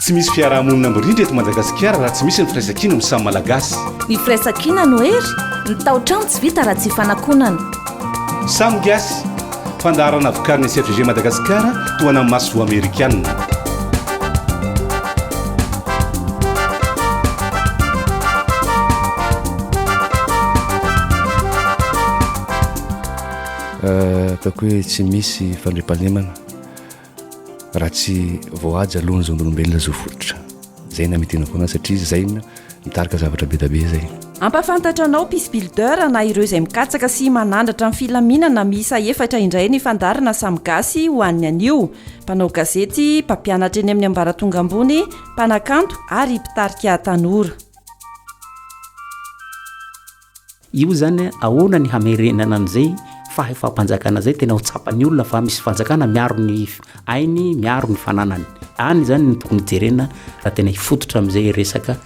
Tsy misy fiarahamonina mirindra eto Madagasikara raha tsy misy ny firaisankina amin'ny samy Malagasy. Ny firaisankina no hery, ny tao-trano tsy vita raha tsy ifanakonana. Samy Gasy, fandaharana vokarin'ny SFG Madagasikara, tohanan'ny masoivoho amerikana. Eh, ataoko hoe tsy misy fandriampahalemana raha tsy voahaja aloha ny zon'olombelona zo fototra zay na mitena foana satria zay na mitarika zavatra bedabe zay ampafantatra anao pis builder na ireo izay mikatsaka sy manandratra ny filaminana misa efatra indray ny fandarina samy gasy ho an'ny anio mpanao gazety mpampianatra eny amin'ny ambaratonga ambony mpanakanto ary mpitarika tanora Io izany ahoana ny hamerenana an'izay fahefam-panjakana izay tena ho tsapan'ny olona fa misy fanjakana miaro ny ainy, miaro ny fananany. Any izany no tokony hijerena raha tena hifototra amin'izay resaka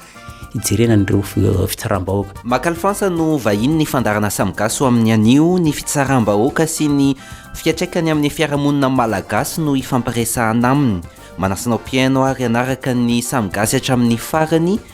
hijerena an'ireo eh, fitsaram-bahoaka. Makalifansa no vahiny ny fandarana samy gasy ho amin'ny anio, ny fitsaram-bahoaka sy ny fiatraikany amin'ny fiarahamonina malagasy no hifampiresahana aminy. Manasa anao mpihaino ary hanaraka ny samy gasy hatramin'ny farany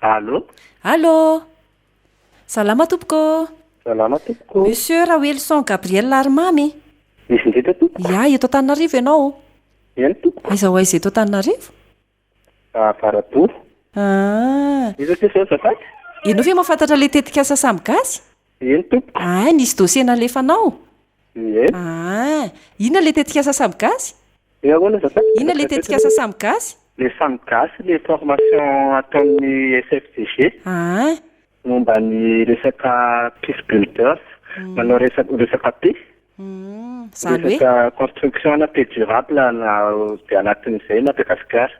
Allô Allô Salama tompoko Salama tompoko Monsieur Raoelison Gabriel Arimamy Iza indrindra tompoko? Iah eto Antananarivo ianao Eny tompoko Aiza ho aiza eto Antananarivo? Avaraboa. Ah. Iza aty zao azafady? Ianao ve mahafantatra ilay tetikasa Samy Gasy? Eny tompoko. Ah, nisy dossier nalefanao? Ie. Ah. Inona ilay tetikasa Samy Gasy? Hoe ahoana azafady? Inona ilay tetikasa Samy Gasy? Ilay Samy Gasy ilay formation ataon'ny SFDG. Ah. Momba ny resaka peace builders, manao resaka resaka paix, resaka construction na paix durable na dia anatin'izay i Madagasikara.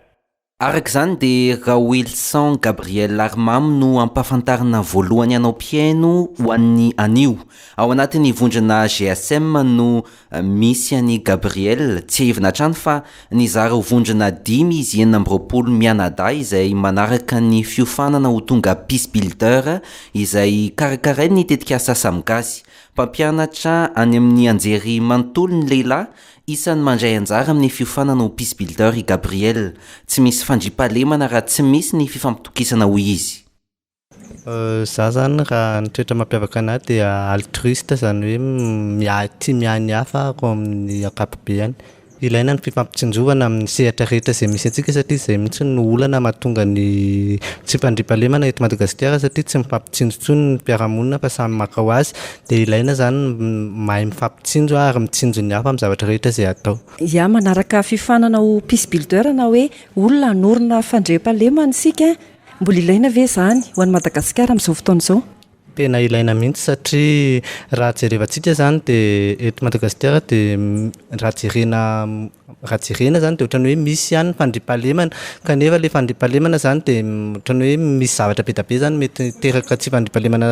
Araka izany dia Raoelison Gabriel Arimamy no ampahafantarina voalohany hanao mpihaino ho an'ny anio. Ao anatin'ny vondrona GSM no Misy an'i Gabriel, tsiahivina hatrany fa nizara ho vondrona dimy izy enina amby roapolo mianadahy izay manaraka ny fiofanana ho tonga Peace Builder izay karakarain'ny tetikasa Samy Gasy. Mpampianatra any amin'ny anjery manontolo ny lehilahy isan'ny mandray anjara amin'ny fiofanana ho Peace Builder i Gabriel. Tsy misy fandriampahalemana raha tsy misy ny fifampitokisana hoy izy. Za zany raha ny toetra mampiavaka anah dia altruiste zany hoe miahy tia miahy ny hafa ahako amin'ny ankapobeny, ilaina ny fifampitsinjovana amin'ny sehatra rehetra izay misy antsika satria izay mihintsy no olana mahatonga ny tsy fandriampahalemana eto Madagasikara satria tsy mifampitsinjo intsony ny mpiara-monina fa samy maka ho azy, dia ilaina zany ny mahay mifampitsinjo ary mitsinjo ny hafa amin'ny zavatra rehetra izay atao. Ya, manaraka fifaninana ho peace builder na hoe olona hanorina fandriampahalemana isika Mbola ilaina ve izany ho an'i Madagasikara amin'izao fotoana izao? Tena ilaina mihitsy satria raha jerevantsika izany dia eto Madagasikara dia raha jerena raha jerena izany dia ohatran'ny hoe misy ihany ny fandriampahalemana kanefa ilay fandriampahalemana izany dia ohatran'ny hoe misy zavatra be dia be izany mety hiteraka tsy fandriampahalemana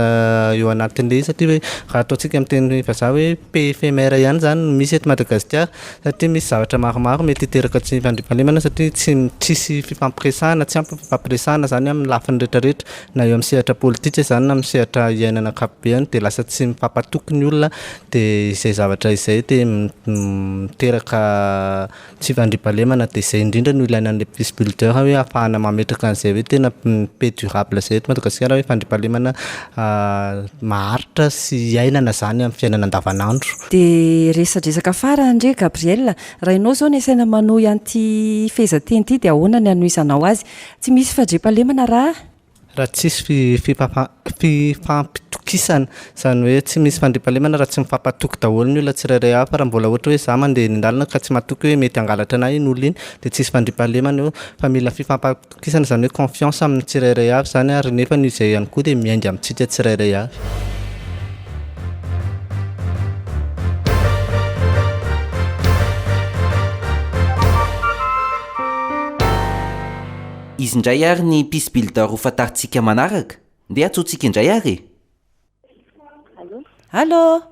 eo anatin'ilay izy satria hoe raha ataontsika amin'ny teny vazaha hoe pays éphémère ihany izany no misy eto Madagasikara. satria misy zavatra maromaro mety hiteraka tsy fandriampahalemana satria tsy tsisy fifampiresahana, tsy ampy ny fifampiresahana zany amin'ny lafiny rehetra rehetra, na eo amin'ny sehatra politika izany na amin'ny sehatra iainana ankapobeany dia lasa tsy mifampatoky ny olona dia izay zavatra izay dia miteraka tsy fandriampahalemana dia izay indrindra no ilaina an'ilay peace builder hoe ahafahana mametraka an'izay hoe tena paix durable izay eto Madagasikara hoe fandriampahalemana maharitra sy iainana zany amin'ny fiainana andavan'andro. Dia resadresaka farany re Gabriel, raha ianao izao no asaina manohy an'ity fehezanteny ity dia ahoana ny hanohizanao azy? Tsy misy fadriampahalemana raha. Raha tsisy fifampitokisana. Izany hoe tsy misy fandriampahalemana raha tsy mifampatoky daholo ny olona tsirairay avy. Fa raha mbola ohatra hoe izaho mandeha eny an-dalana ka tsy matoky hoe mety hangalatra an'ahy iny olona iny dia tsisy fandriampahalemana eo fa mila fifampitokisan'ny Kisana izany hoe confiance amin'ny tsirairay avy izany ary nefa ny izay ihany koa dia miainga amintsika tsirairay avy. Izy indray ary ny peace builder ho fantarintsika manaraka. Ndeha antsointsika indray ary e! Allô?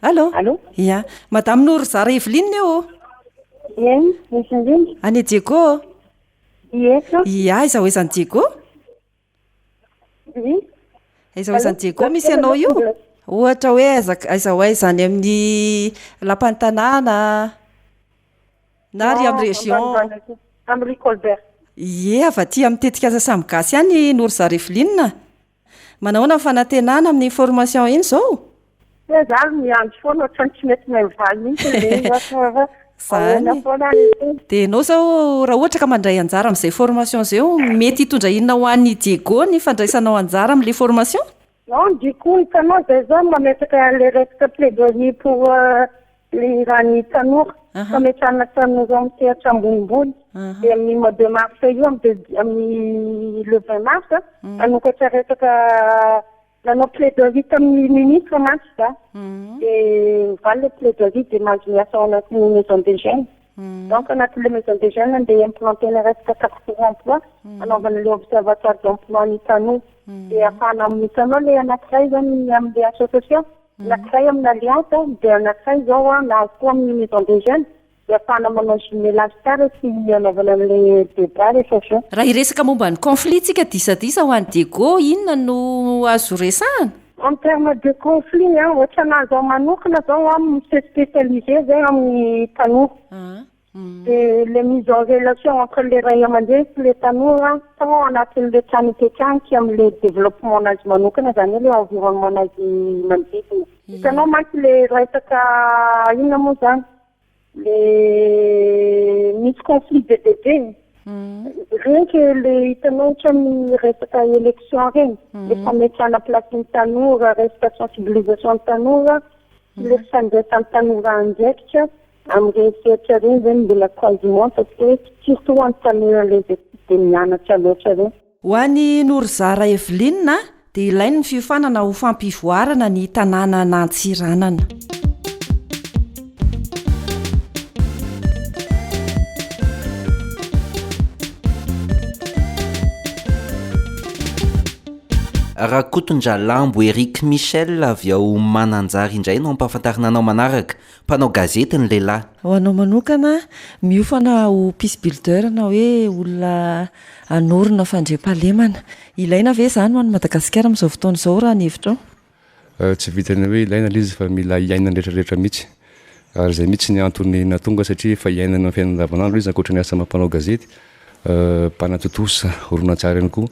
Allô? Allô? Ia, Madame Norizara Evelyne io ô? Eny, misy indrindra. Any Diego ô? I aiza ho aizan'i Diego? Aiza ho aizan'i Diego misy anao io? Ohatra hoe aiza aiza ho aiza any amin'ny lapan'ny tanàna na ary amin'ny région? Amin'ny rue Colbert. Ie, avy aty amin'ny tetikasa samy gasy ihany i Norzar Evelyn a! Manahoana ny fanantenana amin'ny formation iny zao? Tena za ary miandry foana ohatrany tsy mety mivaly mihitsy le izy ohatra hoe ahoana foana ary ity. Dia ianao izao raha ohatra ka mandray anjara amin'izay formation izay eo, mety hitondra inona ho an'i Diego ny fandraisanao anjara amin'ilay formation? Non, du coup hitanao izay zao mametraka le resaka plaidoyer pour Le raha ny tanora, fametrahana tanora amin'ny sehatra ambonimbony, dia amin'ny mois de mars io, amin'ny le vingt mars, hanokatra resaka, nanao plaidoirie tamin'ny ministre mantsy za, dia ovaly le plaidoirie dia mahazo miasa ao anatin'ny maison des jeunes, donc anatin'le maison des jeunes no andeha implanter-na resaka carte pour emploi, hanaovana le observatoire d'emploi ny tanora, dia ahafahana, hitanao le anankiray zany ny amin'le association. Anankiray amin'ny Alliance dia anankiray izao an, na koa amin'ny Maison des Jeunes dia afahana manao jumelage tsara sy hanaovana an'ilay débat rehefa avy eo. Raha hiresaka momba ny conflit tsika disadisa ho an'i Diego inona no azo resahana? En terme de conflit an, ohatranà zao manokana zao an, mi se specialiser zay amin'ny tanora. Dia le mise en relation entre le ray aman-dreny sy le tanora sao ao anatin'le trano ipetrahany amle developpement-nazy manokana zany hoe le environnement-nazy manodidina. Hitanao mantsy le resaka inona moa zany le misy conflit be dia be e! Reny ke le hitanao otrany resaka election reny, le fametrahana place ny tanora, resaka sensibilisation ny tanora, sy le fifandraisan'ny tanora andraikitra, Amin'ireny sehatra ireny ve no mbola quasiment fa tsy hoe surtout ho an'ny tanora le izay tsy dia mianatra loatra ireny. Ho an'i Norizara Evelyne a, dia ilainy ny fiofanana ho fampivoarana ny tanàna nantsiranana. Rakotondralambo Eric Michel avy ao Mananjary indray no ampahafantarina anao manaraka. Mpanao gazety ny lehilahy. Ho anao manokana, miofana ho peace builder na hoe olona hanorina fandriampahalemana. Ilaina ve izany ho an'i Madagasikara amin'izao fotoana izao raha ny hevitrao? Tsy vitan'ny hoe ilaina ilay izy fa mila iainan'ny rehetra rehetra mihitsy. Ary izay mihitsy ny antony nahatonga azy satria efa iainany amin'ny fiainany andavanandro izy ankoatra ny asa mpanao gazety, mpanatontosa horonantsary ihany koa.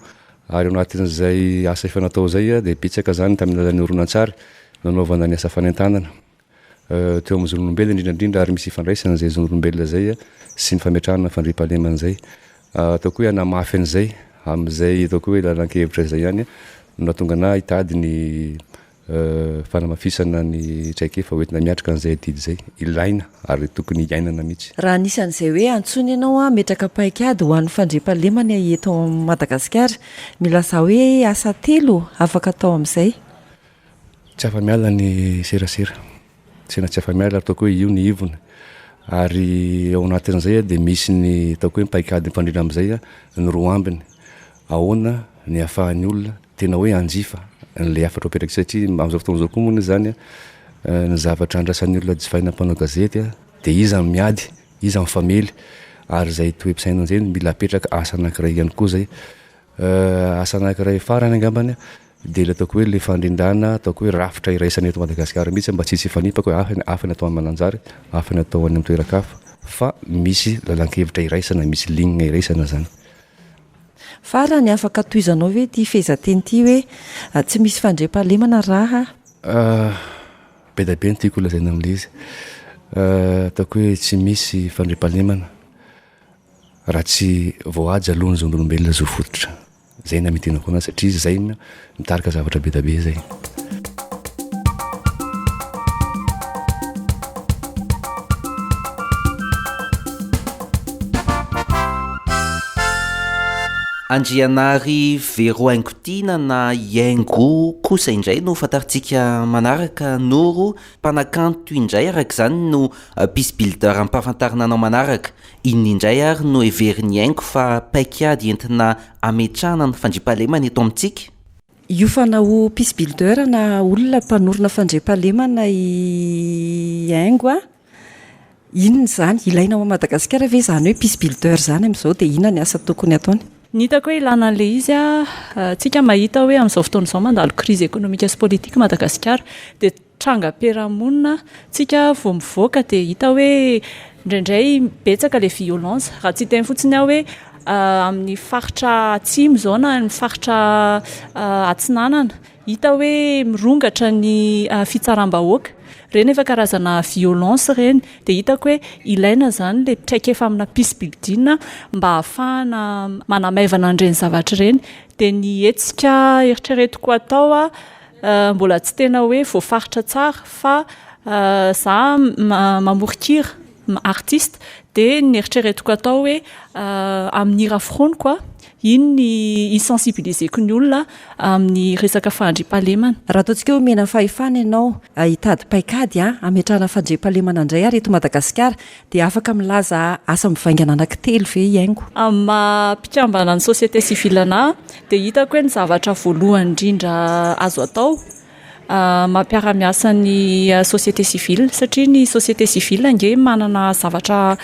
Ary ao anatin'izay asa efa natao izay dia betsaka izany tamin'ny alalan'ny horonantsary nanaovana ny asa fanentanana. teo amin'ny zon'olombelona indrindra indrindra ary misy ifandraisany izay zon'olombelona izay sy ny fametrahana ny fandriampahalemana izay. Ataoko hoe hanamafy an'izay amin'izay ataoko hoe lalan-kevitra izay ihany no nahatonga anah hitady ny fanamafisana ny traikefa hoentina miatrika an'izay adidy izay. Ilaina ary tokony iainana mihitsy. Raha anisan'izay hoe antsoina ianao hametraka paikady ho an'ny fandriampahalemana eto Madagasikara, milazà hoe asa telo afaka atao amin'izay. Tsy afa-miala ny serasera, tena tsy afa-miala ary ataoko hoe io ny ivony. Ary ao anatin'izay dia misy ny ataoko hoe paik'ady mifandrindra amin'izay ny roa ambiny. Ahoana ny ahafahan'ny olona tena hoe hanjifa an'ilay hafatra ho apetraka satria amin'izao fotoana izao koa moa izany ny zavatra andrasan'ny olona jifaina mpanao gazety dia iza no miady, iza mifamely ary izay toe-pisainana izay no mila apetraka asa anankiray ihany koa izay. Asa anankiray farany angambany dia ilay ataoko hoe ilay fandrindrana ataoko hoe rafitra iraisan'ny eto Madagasikara mihitsy mba tsy hisy hifanipaka hoe afa afa ny atao any Mananjary, afa ny atao any amin'ny toeran-kafa fa misy lalan-kevitra iraisana, misy ligne iraisana izany. Farany, afaka tohizanao ve ity fehezanteny ity hoe tsy misy fandriampahalemana raha. Be dia be ny tiako lazaina amin'ilay izy. Ataoko hoe tsy misy fandriampahalemana Raha tsy voahaja aloha ny zon'olombelona zo fototra. Zay no hamitinako anazy satria izy zay no mitarika zavatra be da be zay. Andrianary Vero Haingotiana na i Haingo kosa indray no fantarintsika manaraka, Noro, mpanakanto indray araka izany no Peace Builder ampahafantarina anao manaraka. Inona indray ary no heverin'i Henk fa paik'ady entina hametrahana ny fandriampahalemana eto amintsika? Hiofana ho peace builder na olona mpanorina fandriampahalemana i Henk a! Inona izany? Ilaina ao Madagasikara ve izany hoe peace builder izany amin'izao dia inona ny asa tokony hataony? Ny hitako hoe ilana an'ilay izy an, tsika mahita hoe amin'izao fotoana izao mandalo crise économique sy politique Madagasikara dia Trangam-piarahamonina tsika vao mivoaka dia hita hoe indraindray betsaka ilay violence. Raha tsy hiteny fotsiny aho hoe amin'ny faritra atsimo izao na amin'ny faritra atsinanana, hita hoe mirongatra ny fitsaram-bahoaka. Ireny efa karazana violence ireny. Dia hitako hoe ilaina izany ilay traikefa amina pisi-bibidiana mba hahafahana manamaivana an'ireny zavatra ireny. Dia ny hetsika eritreretiko atao Mbola tsy tena hoe voafaritra tsara fa za mamoron-kira, artiste, dia ny eritreretiko atao hoe amin'ny hira foroniko an, iny ny hi-sensibiliser-ko ny olona amin'ny resaka fahandriampahalemana. Raha ataontsika hoe omena fahefana ianao hitady paikady hametrahana fandriampahalemana indray ary eto Madagasikara Dia afaka milaza asa mivaingana anankitelo ve i Haingo? Amin'ny maha mpikambana ny société civile anahy dia hitako hoe ny zavatra voalohany indrindra azo atao mampiara-miasa ny société civile satria ny société civile ange manana zavatra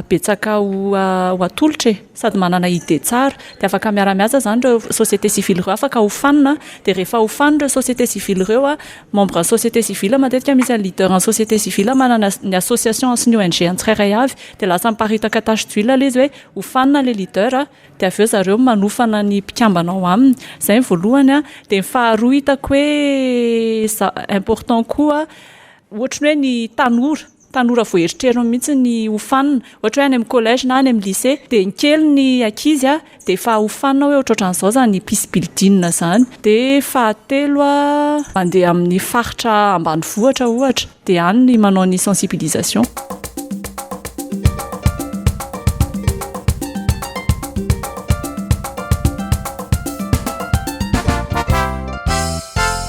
betsaka ho atolotra e! sady manana idée tsara dia afaka miara-miasa izany ireo société civile ireo afaka hofanina dia rehefa hofanina ireo société civile ireo Membre ny société civile matetika misy ny leader ny société civile manana ny association sy ny ONG ny tsirairay avy dia lasa miparitaka tache d'huile ilay izy hoe hofanina ilay leader dia avy eo zareo manofana ny mpikambana ao aminy izay ny voalohany dia ny faharoa hitako hoe important koa ohatry ny hoe ny tanora tanora vao eritrerin mihitsy ny ho fanina ohatra hoe any amin'ny collège na any amin'ny lycée dia ny kely ny ankizy dia efa ho fanina hoe ohatrohatran'izao izany peace building izany dia fahatelo mandeha amin'ny faritra ambanivohitra ohatra dia any ny manao ny sensibilisation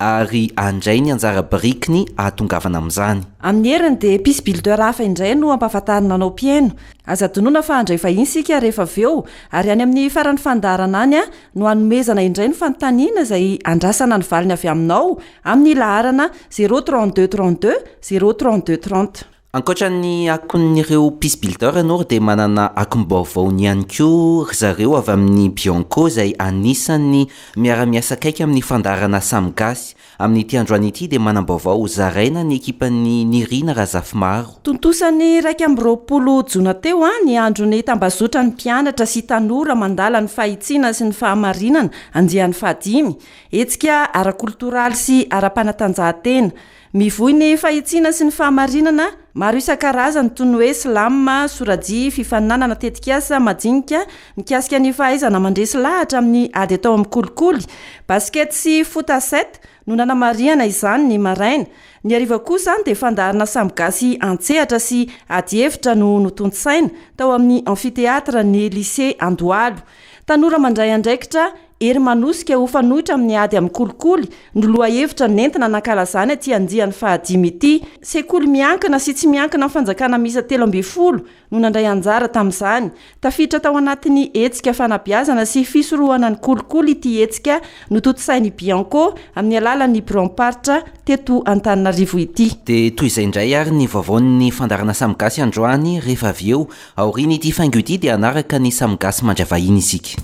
ary handray ny anjara birikiny hahatongavana amin'izany. Amin'ny heriny dia peace builder hafa indray no ampahafantarina anao mpihaino. Aza adinoina fa handray vahiny isika rehefa avy eo, ary any amin'ny faran'ny fandaharana any no hanomezana indray ny fanontaniana izay andrasana ny valiny avy aminao amin'ny laharana zéro trente-deux trente-deux zéro trente-deux trente. Ankoatra ny akon'ireo Peace Builders Nord dia manana akom-baovaony ihany koa ry zareo avy amin'ny Bianco izay anisan'ny miara-miasa akaiky amin'ny fandaharana Samy Gasy. Amin'ity androany ity dia manam-baovao ho zaraina ny ekipan'i Nirina Razafimaro. Tontosa ny iraika amby roapolo jona teo ny andron'ny tambazotran'ny mpianatra sy tanora mandala ny fahitsiana sy ny fahamarinana, andiany fahadimy, hetsika ara-koltoraly sy ara-panatanjahantena, Mivoy ny fahitsiana sy ny fahamarinana maro isan-karazany toy ny hoe slam, sorajia, fifaninanana, tetikasa majinika mikasika ny fahaizana mandresy lahatra amin'ny ady atao amin'ny kolikoly, basket sy foot à sept no nanamarihana izany ny maraina. Ny hariva kosa dia fandaharana sambo gasy an-tsehatra sy ady hevitra no notontosaina tao amin'ny Amphithéâtre-n'ny Lycée Andohalo. Tanora mandray andraikitra Hery manosika ho fanoitra amin'ny ady amin'ny kolikoly no lohahevitra nentina nankalazana ity andiany fahadimy ity. Sekoly miankina sy tsy miankina amin'ny fanjakana miisa telo ambin'ny folo no nandray anjara tamin'izany. Tafiditra tao anatin'ny hetsika fanabeazana sy fisorohana ny kolikoly ity hetsika notontosain'ny Bianco amin'ny alalan'ny biraom-paritra teto Antananarivo ity. Dia toy izay indray ary ny vaovaon'ny fandaharana Samy Gasy androany rehefa avy eo Aorian'ity faingo ity dia hanaraka ny samy gasy mandry vahiny isika.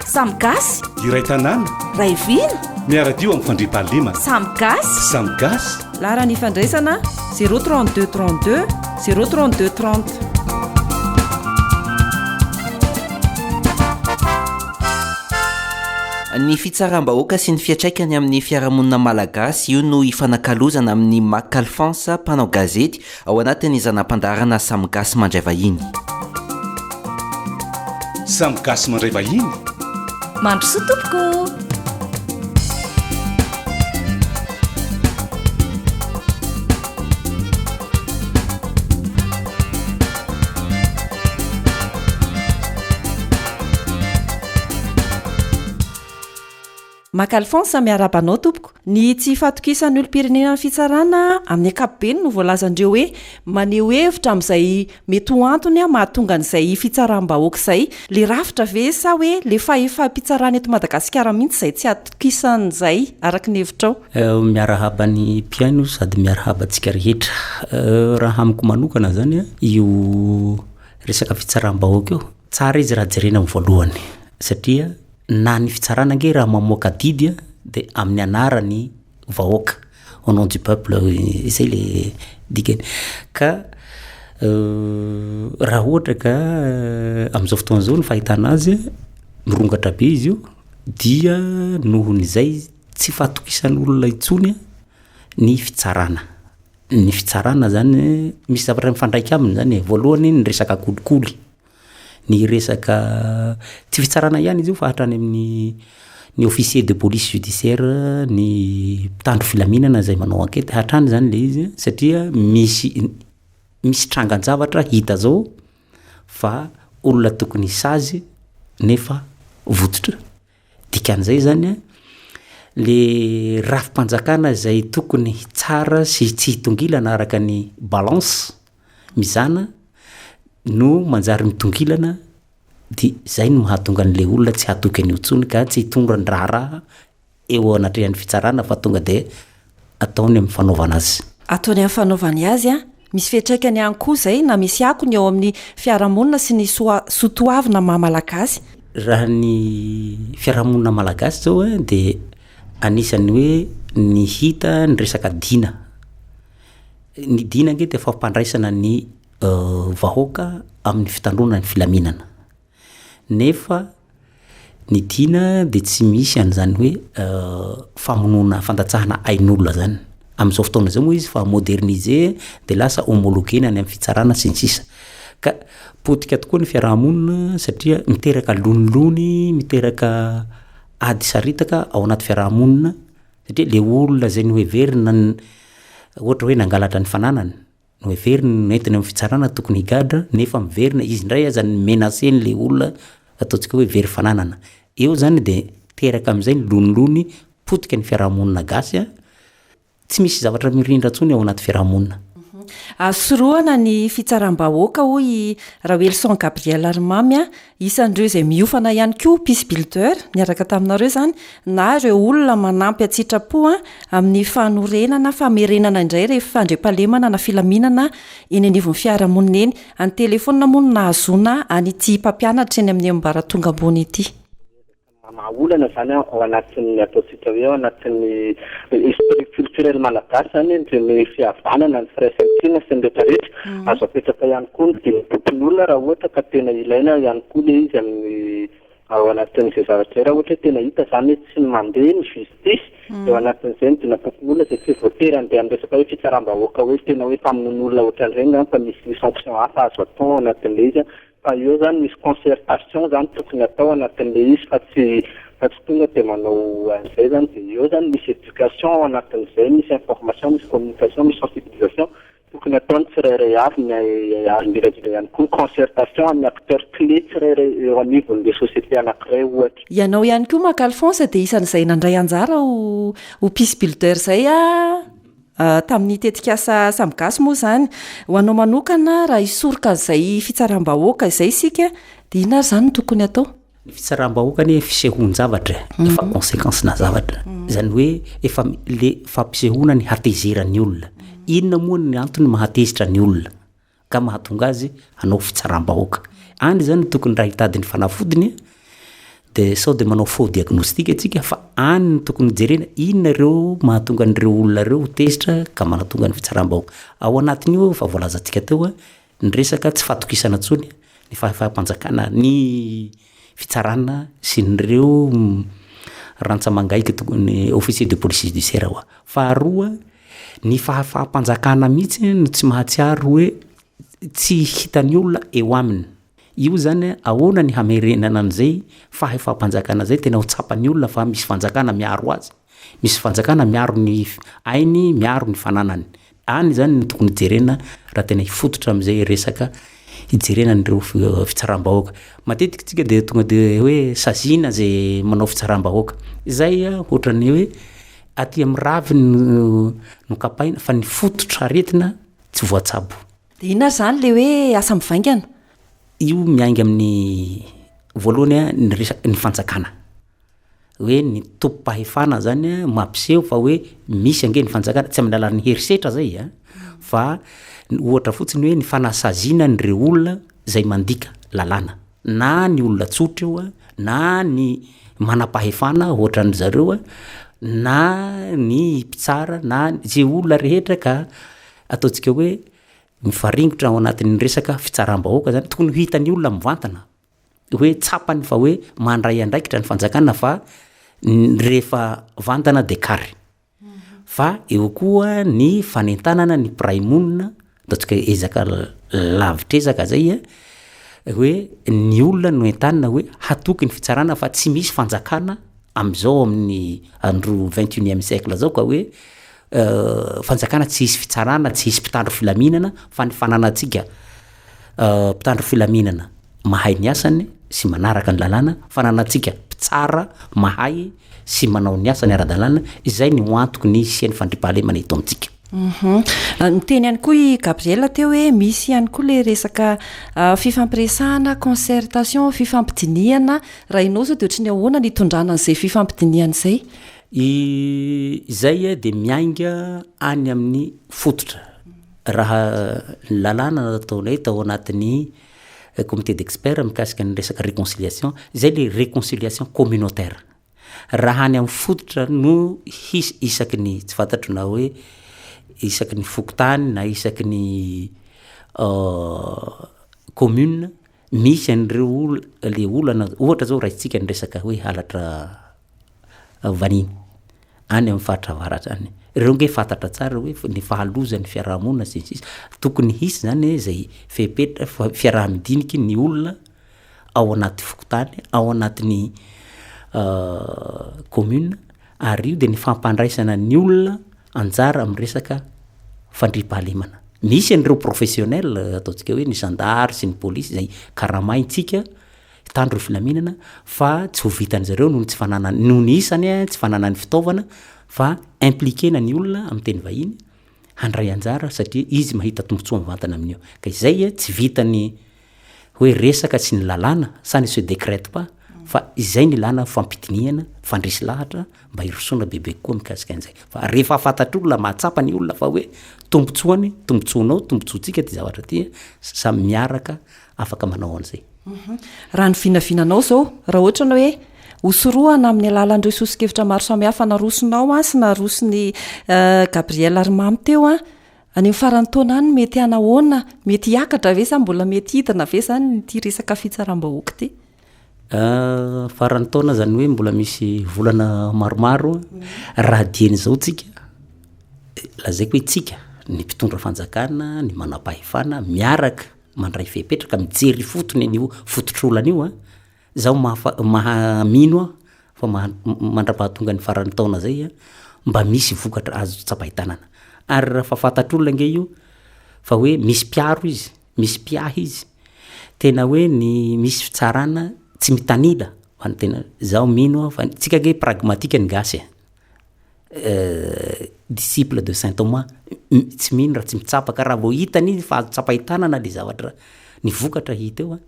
Samy gasy. Iray tanàna. Ray vina. Miaradio amin'ny fandriampahalemana. Samy gasy. Samy gasy. Laharan'ny ifandraisana 032 32 032 30. Ny fitsaram-bahoaka sy ny fiantraikany amin'ny fiarahamonina malagasy, io no ifanakalozana amin'i Mac Alphonse, mpanao gazety ao anatin'ny zana-pandaharana Samy Gasy Mandray Vahiny. Samy Gasy Mandray Vahiny. Mandrosoa tompoko! Maka Alphonse, miarahaba anao tompoko. Ny tsy fahatokisan'ny olom-pirenena ny fitsarana amin'ny ankapobeny no voalazan'ireo hoe maneho hevitra amin'izay mety ho antony mahatonga an'izay fitsaram-bahoaka izay. Ilay rafitra ve sa hoe ilay fahefam-pitsarana eto Madagasikara mihitsy izay tsy atokisan'izay, araka ny hevitrao? Miarahaba ny mpihaino sady miarahaba antsika rehetra. Raha amiko manokana zany a, io resaka fitsaram-bahoaka io, tsara izy raha jerena amin'ny voalohany satria na ny fitsarana ange raha mamoaka didy a de amin'ny anaran'ny vahoaka, au nom du peuple, zay le dikany. Ka raha ohatra ka am'zao fotoana zao ny fahitana azy, mirongatra be izy io dia nohon'izay izy. Tsy fahatokisan'olona intsony ny fitsarana. Ny fitsarana izany, misy zavatra mifandraika aminy izany e. Voalohany, ny resaka kolikoly, ny resaka, tsy fitsarana ihany izy io fa hatrany amin'ny ny officier de police judiciaire, ny mpitandro filaminana izay manao enquête, hatrany izany ilay izy satria misy misy trangan-javatra hita izao fa olona tokony sazy nefa vototra. Dikan'izay izany, ilay rafi-panjakana izay tokony hitsara sy tsy hitongilana araka ny balance mizana no manjary mitongilana dia izay no mahatonga an'ilay olona tsy hatoky an'io intsony ka tsy hitondra ny raharaha eo anatrehan'ny fitsarana fa tonga dia ataony amin'ny fanaovana azy. Ataony amin'ny fanaovany azy, misy fiantraikany ihany koa izay na misy akony eo amin'ny fiarahamonina sy ny soa soa toavina maha malagasy. Raha ny fiarahamonina malagasy izao a dia anisan'ny hoe ny hita ny resaka dina, ny dina ange dia fampandraisana ny vahoaka amin'ny fitandroana ny filaminana. Nefa ny tiana dia tsy misy an'izany hoe famonoana fandatsahana ain'olona izany. Amin'izao fotoana izao moa izy efa moderniser dia lasa homologuena any amin'ny fitsarana sy ny sisa. Ka potika tokoa ny fiaraha-monina satria miteraka lonilony, miteraka ady saritaka ao anaty fiaraha-monina satria ilay olona izay noheverina ohatra hoe nangalatra ny fananany Noheveriny ny nentiny amin'ny fitsarana tokony higadra nefa miverina izy indray aza ny menacer an'ilay olona ataontsika hoe very fananana. Eo izany dia teraka amin'izay ny lonilony potika ny fiarahamonina gasy an! Tsy misy zavatra mirindra intsony ao anaty fiarahamonina. Azo sorohana ny fitsaram-bahoaka hoy i Rawelson Gabriel Ry Mamy an! Isan'ireo izay miofana ihany koa Peace Builder niaraka taminareo izany na ireo olona manampy an-tsitrapo amin'ny fanorenana famerenana indray ireny fandriampahalemana na filaminana eny anivon'ny fiarahamonina eny. An-telefaonina moa no nahazoana an'ity mpampianatra eny amin'ny ambaratonga ambony ity. Mamaha olana izany ao anatin'ny ataontsika hoe ao anatin'ny esprit culturel malagasy izany ireny fihavanana, ny firaisankina sy ny rehetra rehetra. Azo apetraka ihany koa ny dimy antokon'olona raha ohatra ka tena ilaina ihany koa ilay izy amin'ny ao anatin'izay zavatra izay. Raha ohatra hoe tena hita izany hoe tsy mandeha ny justice dia ao anatin'izay ny dimy antokon'olona izay tsy voatery handeha amin'ny resaka hoe fitsaram-bahoaka hoe tena hoe mpamono olona ohatran'ireny izany fa misy sanction hafa azo atao ao anatin'ilay izy. Fa eo zany misy concertation zany tokony atao anatin'le izy fa tsy fa tsy tonga de manao an'izay zany de eo zany misy éducation ao anatin'izay, misy information, misy communication, misy sensibilisation tokony ataon'ny tsirairay avy ny ary indrindra indrindra ihany koa concertation amin'ny acteurs clés tsirairay eo anivon'le société anankiray ohatra. Ianao ihany koa Marc Alphonse dia isan'izay nandray anjara ho ho peace builder izay a! Tamin'ny tetikasa Samy Gasy moa izany, ho anao manokana, raha hisoroka an'izay fitsaram-bahoaka izay isika, dia inona ary izany no tokony hatao? Ny fitsaram-bahoaka anie fisehoan-javatra e, efa consequence-na zavatra. Izany hoe efa ilay fampisehoana ny hatezeran'ny olona. Inona moa ny antony mahatezitra ny olona? ka mahatonga azy hanao fitsaram-bahoaka any zany tokony raha hitady ny fanafodiny de sao de manao faux diagnostic atsika fa any ny tokony jerena inona ireo mahatonga an'ireo olona ireo tezitra ka manatonga ny fitsaram-bahoaka ao anatin'io efa voalazantsika teo ny resaka tsy fatokisana tsony ny fahefam-panjakana ny fitsarana sy ireo rantsamangaiky tokony officier de police judiciaire hoa. Faharoa, ny fahafaham-panjakana mihitsy no tsy mahatsiaro hoe tsy hitan'ny olona eo aminy. Io zany ahoana ny hamerenana an'izay fahefam-panjakana izay tena ho tsapan'ny olona fa misy fanjakana miaro azy. Misy fanjakana miaro ny ainy, miaro ny fananany. Any izany no tokony hijerena raha tena hifototra amin'izay resaka hijerena an'ireo fitsaram-bahoaka. Matetika isika dia tonga dia hoe saziana izay manao fitsaram-bahoaka. Izay ohatran'ny hoe aty amin'ny raviny no nokapaina fa ny fototra aretina tsy voatsabo. Dia inona ary izany ilay hoe asa mivaingana? Io miainga amin'ny voalohany ny resaka ny fanjakana. hoe ny tobim-pahefana zany a mampiseho fa hoe misy ange ny fanjakana tsy amin'ny alalan'ny herisetra zay a fa ohatra fotsiny hoe ny fanasaziana an'ireo olona zay mandika lalàna na ny olona tsotra io a na ny manam-pahefana ohatran'ny zareo a na ny mpitsara na ze olona rehetra ka ataontsika hoe mifaringotra ao anatin'ny resaka fitsaram-bahoaka zany tokony ho hitan'ny olona mivantana hoe tsapany fa hoe mandray andraikitra ny fanjakana fa rehefa vantana dia kary fa eo koa ny fanentanana ny mpiray monina ataontsika hoe ezaka lavitr'ezaka zay a hoe ny olona no entanina hoe hatoky ny fitsarana fa tsy misy fanjakana amin'izao amin'ny andro vingt et unième siècle zao ka hoe fanjakana tsy hisy fitsarana, tsy hisy mpitandro filaminana fa ny fananantsika mpitandro filaminana mahay ny asany sy manaraka ny lalàna, fananantsika mpitsara mahay sy manao ny asany ara-dalàna, izay ny ho antoky ny hisian'ny fandriampahalemana eto amintsika. Niteny ihany koa i Gabriel teo hoe misy ihany koa ilay resaka fifampiresahana, concertation, fifampidinihana, raha ianao izao dia ohatry ny ahoana ny hitondrana an'izay fifampidinihana izay? I izay dia miainga any amin'ny fototra. Raha ny lalàna nataonay tao anatin'ny eh, comité d'experts mikasika ny resaka réconciliation, izay le réconciliation communautaire. Raha any amin'ny fototra no hisy isaky ny tsy fantatro na hoe isaky ny fokontany na isaky ny euh, commune, Misy an'ireo le olana, ohatra zao raisitsika ny resaka hoe halatra vaniny any amin'ny faritra avaratra any, ireo nge fantatra tsara hoe ny fahalozan'ny fiarahamonina sy ny sisa, tokony hisy zany zay fepetra fiaraha-midiniky ny olona ao anaty fokontany, ao anatin'ny commune. ary io dia ny fampandraisana ny olona anjara amin'ny resaka fandriampahalemana. Misy an'ireo professionnel ataontsika hoe ny zandary sy ny polisy izay karamaintsika hitandro ny filaminana fa tsy ho vitan'izy ireo noho ny tsy fananany, noho ny isany, tsy fananany fitaovana fa impliquena ny olona amin'ny teny vahiny, handray anjara satria izy mahita tombotsoa mivantana amin'io. Ka izay tsy vitan'ny hoe resaka sy ny lalàna, ça ne se décrète pas, fa izay no ilàna fampidinihana, fandresy lahatra mba hirosoana bebe kokoa mikasika an'izay. Fa rehefa fantatr'olona, mahatsapa ny olona fa hoe tombotsoany, tombotsoanao, tombotsoantsika ity zavatra ity, samy miaraka afaka manao an'izay. Raha ny vinavinanao izao, raha ohatra ny hoe hosorohana amin'ny alalan'ireo soso-kevitra maro samihafa narosonao sy naroson'i eh, Gabriel ary Mamy teo, any amin'ny faran'ny taona any mety hanahoana? Mety hiakatra ve sa mbola mety hidina ve izany ity resaka fitsaram-bahoaka ity? Ah, faran'ny taona izany hoe mbola misy volana maromaro, raha dian'izao tsika, eh, lazaiko hoe tsika, ny mpitondra fanjakana, ny manam-pahefana, miaraka mandray fepetra ka mijery ifotony an'io fototr'olana io an, zaho mahafa- maha- mino aho fa maha- m- mandrapahatonga ny faran'ny taona zay an, mba misy vokatra azo tsapain-tanana, ary raha fa fantatr'olona ange io fa hoe misy mpiaro izy, misy mpiahy izy, tena hoe ny misy fitsarana tsy mitanila ho an'ny tena, zaho mino aho fa ny, tsika ange pragmatika ny gasy e. disciple de saint Thomas tsy mino raha tsy mitsapa ka raha vao hitany izy fa azo tsapain-tanana le zavatra ny vokatra hita eo a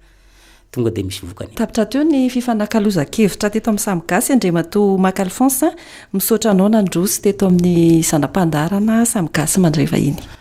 tonga de misy vokany Tapitra teo ny fifanakalozan-kevitra teto amin'ny Samy Gasy Andriamatoa Mac Alphonse, misaotra anao nandroso teto amin'ny zana-pandaharana Samy Gasy mandray vahiny.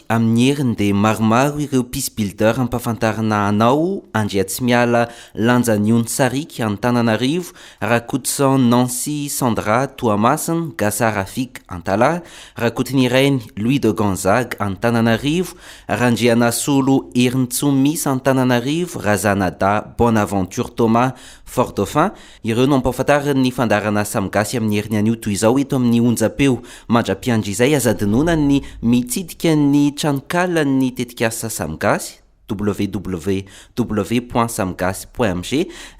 Amin'ny heriny dia maromaro ireo peace builder ampafantarina anao, Andriatsimiala Lanjaniony Sariky, Antananarivo, Rakotoson Nancy Sandra Toamasina, Gasa Rafik, Antalaha, Rakotonirainy Louis de Gonzague, Antananarivo, Randrianasolo Herintsomisa, Antananarivo, Razanadahy Bonaventure Thomas, Fort-Dauphin, Ireo no ampahafantariny ny fandaharana Samy Gasy amin'ny heriny anio toy izao eto amin'ny onjam-peo. Mandra-piandry izay aza adinoana ny mitsidika ny tranonkalan'ny tetikasa Samy Gasy, www.samygasy.mg,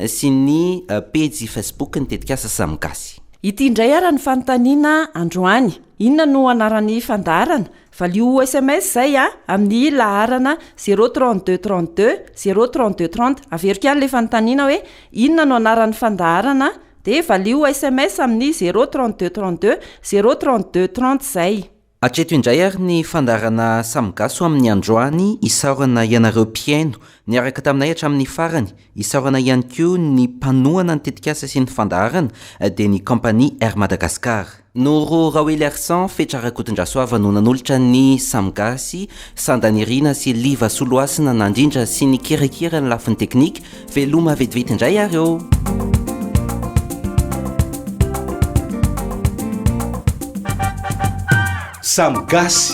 sy ny pejy Facebook-n'ny tetikasa Samy Gasy. Ity indray ary ny fanontaniana androany. Inona no anaran'ny fandaharana Valio ho sms izay a, amin'ny laharana zéro trente deux trente deux zéro trente deux trente. Averiko ihany ilay fanontaniana hoe inona no anaran'ny fandaharana dia valio ho sms amin'ny zéro trente deux trente deux zéro trente deux trente izay. Hatreto indray ary ny fandaharana Samy Gasy ho amin'ny androany, isaorana ianareo mpihaino niaraka taminay hatramin'ny farany, Isaorana ihany koa ny mpanohana ny tetikasa sy ny fandaharana dia ny kaompania Air Madagascar. Noro Raoeliarison, Fetra Rakotondrasoava no nanolotra ny Samy Gasy, Sanda Nirina sy Liva Soloasina nandrindra sy nikirakira ny lafiny teknika. Veloma vetivety indray ary ô! Samy Gasy.